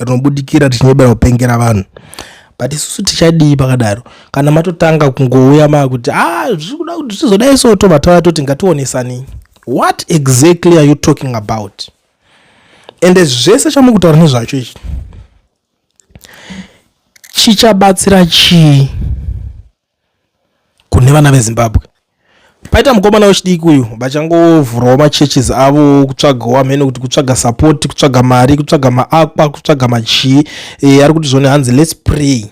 rinobudikira richinyebera kupengera vanhu but isusu tichadii pakadaro kana matotanga kungouya maakuti a ah, zviri kuda kuti tizodai so tobva tava toti ngationesanei what exactly are you talking about ende zvese chamuri kutaura nezvacho ichi chichabatsira chii kune vana vezimbabwe paita mukomana wechidiki uyu vachangovhurawo machurches avo kutsvagawo amene kuti kutsvaga support kutsvaga mari kutsvaga maakwa kutsvaga machii e, eh, ari kuti zvone hanzi lets pray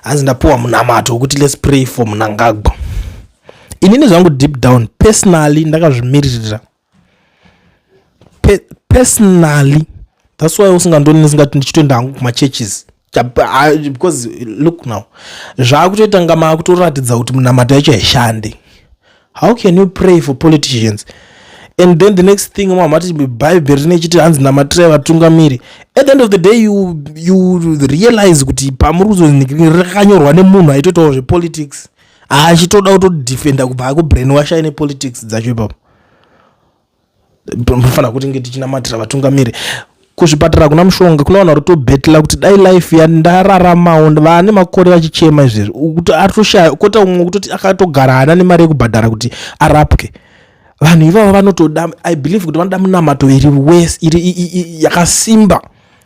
hanzi ndapiwa munamato wekuti lets pray for munangagwa inini zvangu deep down personally ndakazvimiririra Pe personally that's why usingandoni ndisingati ndichitoenda hangu kumachurches because look now zvaakutoita nga maakutoratidza kuti munamato yacho haishande how can you pray for politicians and then the next thing mamati bhaibheri rine chiti hanzi namatirai vatungamiri at the end of the day you, you realize kuti pamuri kuzonrakanyorwa nemunhu aitoitawo zvepolitics achitoda kutodefenda kubva akubrainwasha ine politics dzacho ipapo Mufana kuti nge tichinamatira vatungamiri kuzvipatara kuna mushonga kuna vanhu varikutobhetela kuti dai life yandararamawo vane makore vachichema izvezvi kuti aritoshaya kota umwe kutoti akatogara haana nemari yekubhadhara kuti arapwe vanhu ivavo vanotoda i believe kuti vanoda munamato iri wes iri yakasimba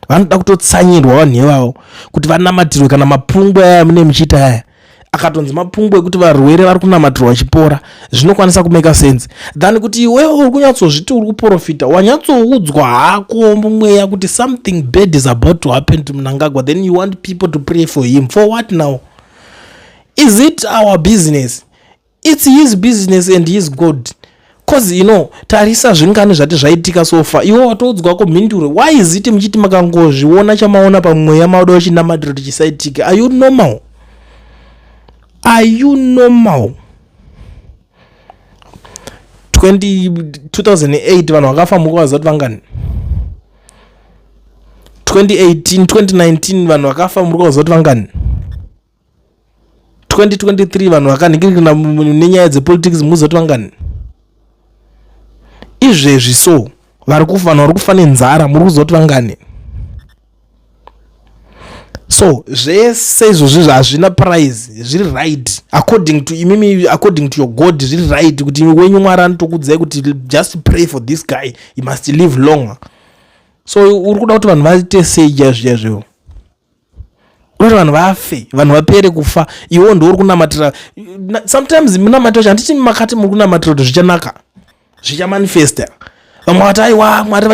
vanoda kutotsanyirwa vanhu ivavo kuti vanamatirwe kana mapungwa yaya mune muchiita yaya akatonzi mapungwa ekuti varwere vari kunamatirwa vachipora zvinokwanisa kumeka sense than kuti iwewe uri kunyatsozviti uri kuprofita wanyatsoudzwa hako mumweya kuti something bad is about to happen to mnangagwa then you want people to pray for him for what now is it our business its his business and his god coz you know tarisa zvingani zvati zvaitika sofa iwe watoudzwa ko mhinduro why is it muchiti makangozviona chamaona pamweya maoda wechinamatiro tichisaitika are you normal are you normal 2008 vanhu vakafa muko vaziva kuti vangani 2018 2019 vanhu vakafa muri kuvaziva kuti vangani 2023 vanhu vakanhikirikana nenyaya dzepolitics muzoti vangani izvezvi so vari kufa vanhu vari kufa nenzara muri kuzoti vangani so zvese izvozvi hazvina prize zviri right according to imimi according to your god zviri right kuti imi wenyu mwari anotokudzai kuti just pray for this guy he must live longer so uri kuda kuti vanhu vaite sei chaizvo chaizvoivo unoita vanhu vafe vanhu vapere kufa iwo ndouri kunamatira sometimes munamatira cho handiti makati muri kunamatira kuti zvichanaka zvichamanifesta vamwe vati aiwa mwari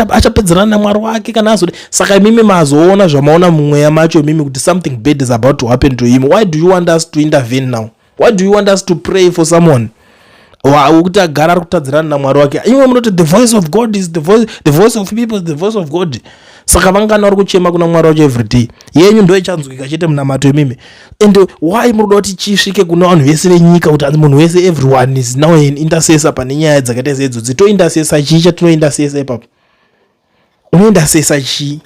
achapedzerana namwari wake kana azode saka imimi mazoona zvamaona mumweya macho imimi kuti something bad is about to happen to him why do you want us to intervene now why do you want us to pray for someone wekuti agara ari kutadzirana namwari wake imwe munoti the voice of god is the voice, the voice of people the voice of god saka vangani vari kuchema kuna mwari wacho everyday yenyu ndo ichanzwika chete munamato imimi and why muri kuda kuti chisvike kuna vanhu vese venyika kuti anzi munhu wese everyone is now an intercessor pane nyaya dzakaita sedzo dzitointercessor chii chatinointercessor ipapo unointercessor chii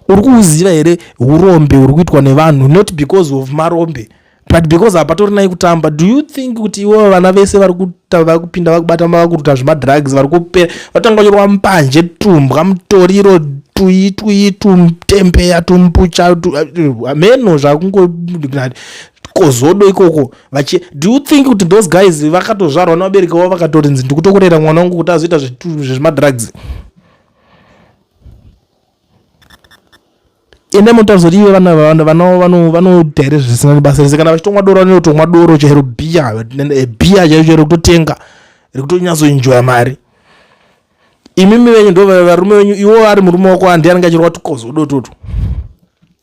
uri kuuziva here urombe uri kuitwa nevanhu not because of marombe but because hapatori nai kutamba do you think kuti ivo vana vese vari kupinda vakubata mavakuruta zvemadrugs vari kupera vatanga kunyorwa mupanje tumbwa mutoriro tuyi tuyi tumtembeya tumpucha hameno zvakungo kozodo ikoko vachi do you think kuti those guys vakatozvarwa nevabereki vavo vakatorinzi ndikutokurera mwana wangu kuti azoita zvezvemadrugs zve ende mutaridza kuti ive vana vanodya here zvisina nebasa rese kana vachitomwa doro vanotomwa doro chairo bhiya eh, bhiya chairo chairo kutotenga rikutonyatsoinjoya mari imimi venyu ndo varume venyu iwo ari murume wako andi anenge achirwa tukozo udototo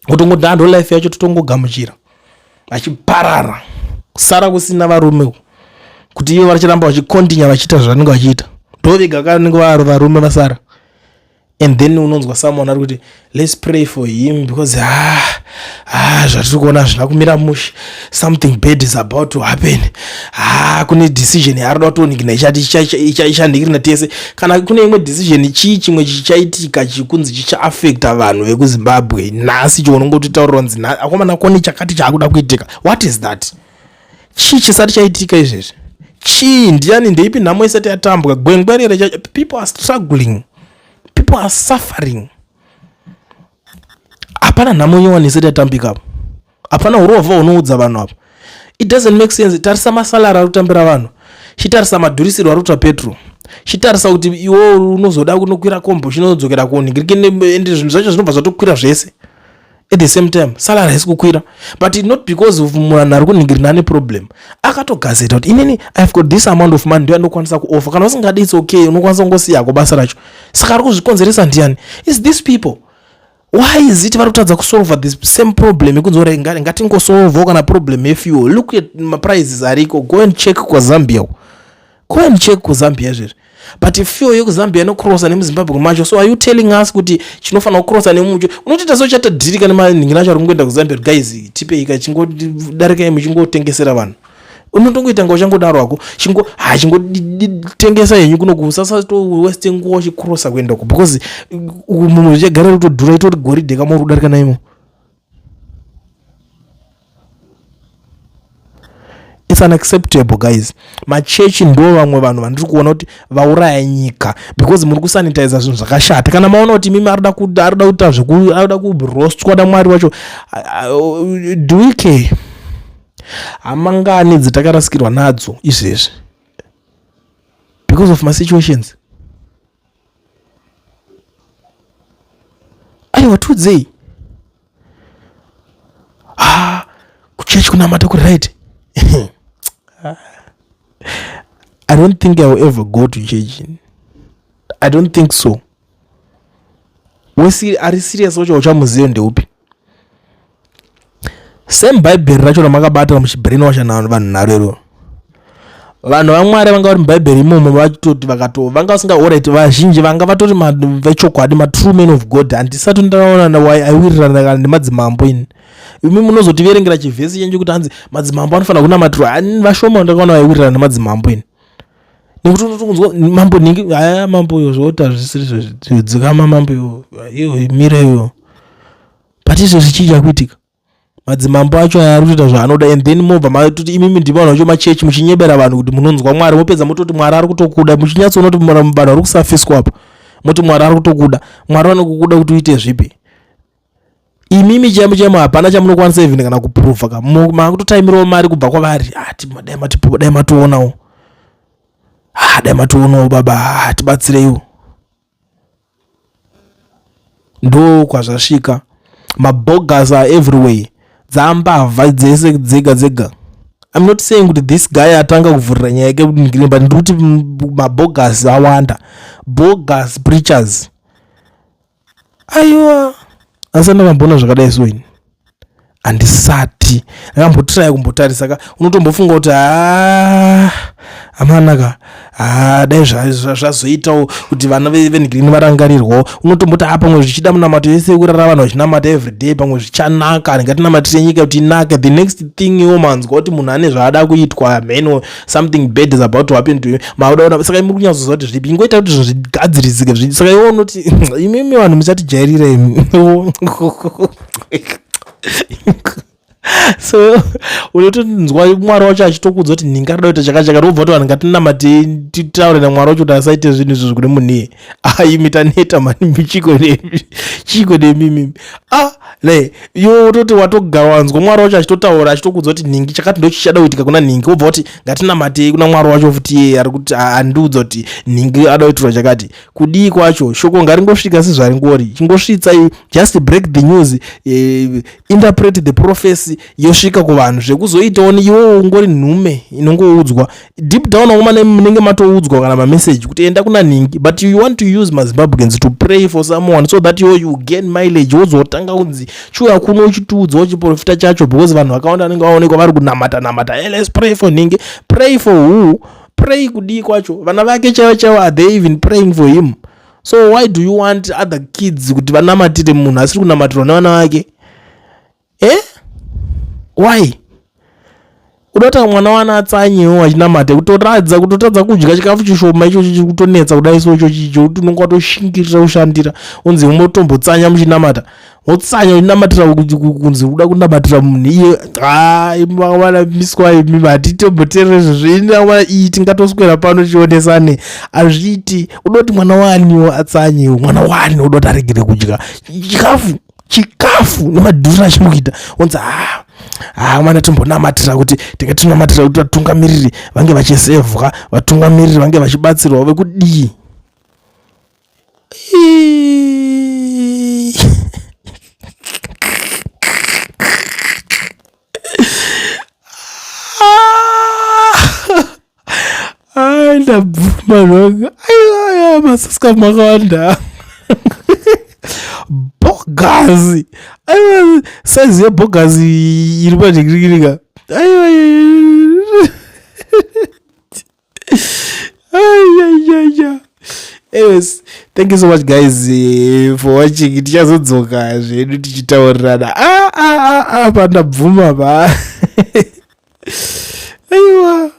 kutongoda ndo life yacho totongogamuchira vachiparara kusara kusina varume kuti ivo vachiramba vachikontinya vachiita zvavanenge vachiita ndovega kanenge varume vasara and then unonzwa someone ari kuti let's pray for him because ah, ah, zvatiri kuona hazvina kumira mushe something bad is about to happen ah, kune decision yaarida kutonikina ichati ichanhikirina tese kana kune imwe decision chii chimwe chichaitika chikunzi chichaafekta vanhu vekuzimbabwe nhasi chounongototaurira kunzi akomana kone chakati chaakuda kuitika what is that chii chisati chaitika izvezvi chii ndiani ndeipi nhamo isati yatambwa gwengwerere chacho people are struggling people are suffering hapana nhamo nyowani isati yatambika apo hapana urovha unoudza vanhu apo it doesn't make sense tarisa masalari ari kutambira vanhu chitarisa madhurisirwo ari kuta petro chitarisa kuti iwo unozoda kunokwira kombo chinodzokera koni ende zvinhu zvacho zvinobva zvatokwira zvese at the same time salary haisi kukwira but not because of munhu ari kunhingirina ane problem akatogazeta kuti inini ihave got this amount of money ndoyandokwanisa kuofa kana usingadi its okay unokwanisa kungosiyako basa racho saka ari kuzvikonzeresa ndiyani is this people why is it vari kutadza kusolva the same problem yekunzi ora ngatingosolvawo kana problem yefuel look at maprices ariko go and check kwaZambia coin check kuzambia izvezvi but fuel yekuzambia inocrossa nemuzimbabwe macho so are you telling us kuti chinofanira kucrossa nemucho unotoita so chatadhirika nemanhingi nacho ari kungoenda kuzambia kuti guys tipeika chingodarikai muchingotengesera vanhu unotongoita nga uchangodaro hako chingo ha chingotengesa henyu kunoku usasatoweste nguva uchicrossa kuenda uko because munhu zvichagara rutodhura itori goridhe kamori kudarika naimo its unacceptable guys machechi ndo vamwe vanhu vandiri kuona kuti vauraya nyika because muri kusanitiza zvinhu zvakashata kana maona kuti mimi arida kuda arida kuita zveku arida kurostwa namwari wacho do we care hamangani dzitakarasikirwa nadzo izvezvi because of masituations aiwa tiudzei ah, kuchechi kunamata kuri right i don't think i will ever go to church i don't think so wesi ari serious wacho uchamuziva ndeupi same bhaibheri racho ramakabata muchibrain washa na vanhu nharo iroro vanhu vamwari vanga vari mubhaibheri imomo vatoti vakato vanga vasinga orit vazhinji vanga vatori vechokwadi matrue man of god handisati ndaaona aiwirirana kana nemadzimambo ini imi munozotiverengera chivhesi chenyu kuti hanzi madzimambo anofanira kunamatirwa ani vashoma ndakaona vaiwirirana nemadzimambo ini nekuti unotongonzwa mambo nhingi aya mambo yo zvooti hazvisiri zvodzikama mambo yo iyo mira iyo but izvo zvichii chakuitika madzimambo acho aya ari kutoita zvaanoda and then mobva matoti imimi ndima vanhu vacho machechi muchinyebera vanhu kuti munonzwa mwari mopedza mototi mwari ari kutokuda muchinyatsoona kuti vanhu vari kusafiswa apo moti mwari ari kutokuda mwari vanokukuda kuti uite zvipi imimi chemo chemo hapana chamunokwanisa even kana kuprova ka makutotaimirawo mari kubva kwavari ati ah, dai matipo dai mationawo ah, dai mationawo baba ah, tibatsireiwo ndo kwazvasvika mabogas are everywhere dzambavha dzese dzega dzega im not saying kuti this guy atanga kuvhurira nyaya yake kudingirini but ndiri kuti mabogas awanda bogas preachers aiwa asi ndakamboona zvakadai so ini handisati ndakambotiraya kumbotarisa ka unotombofunga kuti haa amanaka haa dai zvazoitawo kuti vana venigrini varangarirwawo unotomboti haa pamwe zvichida munamato yese yekurara vanhu vachinamata everyday pamwe zvichanaka ndingatinamatire nyika kuti inake the next thing iwo manzwa kuti munhu ane zvaada kuitwa hameno something bad is about to happen to you mauda ona saka muri kunyatsoziva kuti zvipi ingoita kuti zvinhu zvigadzirisike zvi saka iwo unoti imimi vanhu muchatijairira imi so unotonzwa mwari wacho achitokudza kuti nhinga rida kuita chakachaka robva kuti vanhu ngatinamate titaure namwari wacho kuti asaite zvinhu izvo zvikuti munhiye ah imi taneta mani chiko nemi chiko nemi mimi ah ne yo wototi watogara wanzwa mwari wacho achitotaura achitokuudza kuti nhingi chakati ndochichada kuitika kuna nhingi wobva kuti ngatinamatei kuna mwari wacho futi iye ari kuti andiudza kuti nhingi ada kuitirwa chakati kudii kwacho shoko ngaringosvika sezvaringori chingosvitsai just break the news eh, interpret the prophecy yosvika kuvanhu zvekuzoitawo iwo ungori nhume inongoudzwa deep down akomana munenge matoudzwa kana mameseji kuti enda kuna nhingi but you want to use mazimbabweans to pray for someone so that yo you gain mileage wozotanga kunzi chiuya kuno uchitiudzawo chiprofita chacho because vanhu vakawanda vanenge vaonekwa vari kunamata namata hey, eh, let's pray for nhingi pray for who pray kudii kwacho vana vake chaivo chaivo are they even praying for him so why do you want other kids kuti vanamatire munhu asiri kunamatirwa nevana vake eh why unoita mwana wana atsanyewo achinamate kutoratidza kuti utadza kudya chikafu chishoma ichocho chiri kutonetsa kudai so ichocho icho kuti unenge watoshingirira kushandira unzi umotombotsanya muchinamata wotsanya uchinamatira kunzi uda kunamatira munhu iye hai mwana miswa imi hatitomboteerere zvezveinaa iyi tingatoswera pano tichionesane hazviiti unoti mwana waniwo atsanyewo mwana wani unoti aregere kudya chikafu chikafu nemadhura achiri kuita onzi haa haa mwana timbonamatira kuti tinge tinonamatira kuti vatungamiriri vange vachisevwa vatungamiriri vange vachibatsirwa vekudii Ai ndabvuma zvanga. Aiwa masasika makawanda. Bogazi. Aiwa size yebogazi iri padikirikirika. Aiwa. ayayaya anyways thank you so much guys eh, for watching tichazodzoka zvedu tichitaurirana ah, ah, ah, ah, pandabvuma pa aiwa